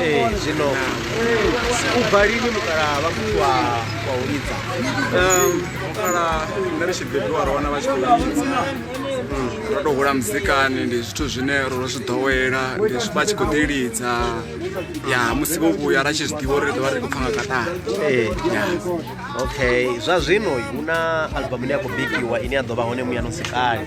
ee zwino u bva lini mukalaha vha muthu wa wa u lidza mukala nṋe ri tshi bebiwa ro wana vha tshi khou lidza ro tou hula muzikani ndi zwithu zwine ro ro zwi ḓowela ndi zwi- vha tshi khou ḓi lidza ya musi vho vhuya ra tshi zwi ḓivha uri ri ḓo vha ri khou pfa nga katara ee okay zwa zwino hu na albamu ine ya khou bikiwa ine ya ḓo vha hone muyano sikali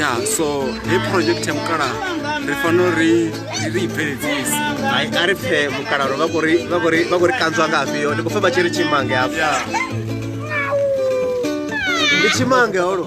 ya so hei project ya mukalaha ri fanela uri ri i bveledzise hai a ri pfe mukalaha vha khou ri kanzwa nga afhio ndi khou pfe vha tshi ri tshimange afha ndi tshimange holo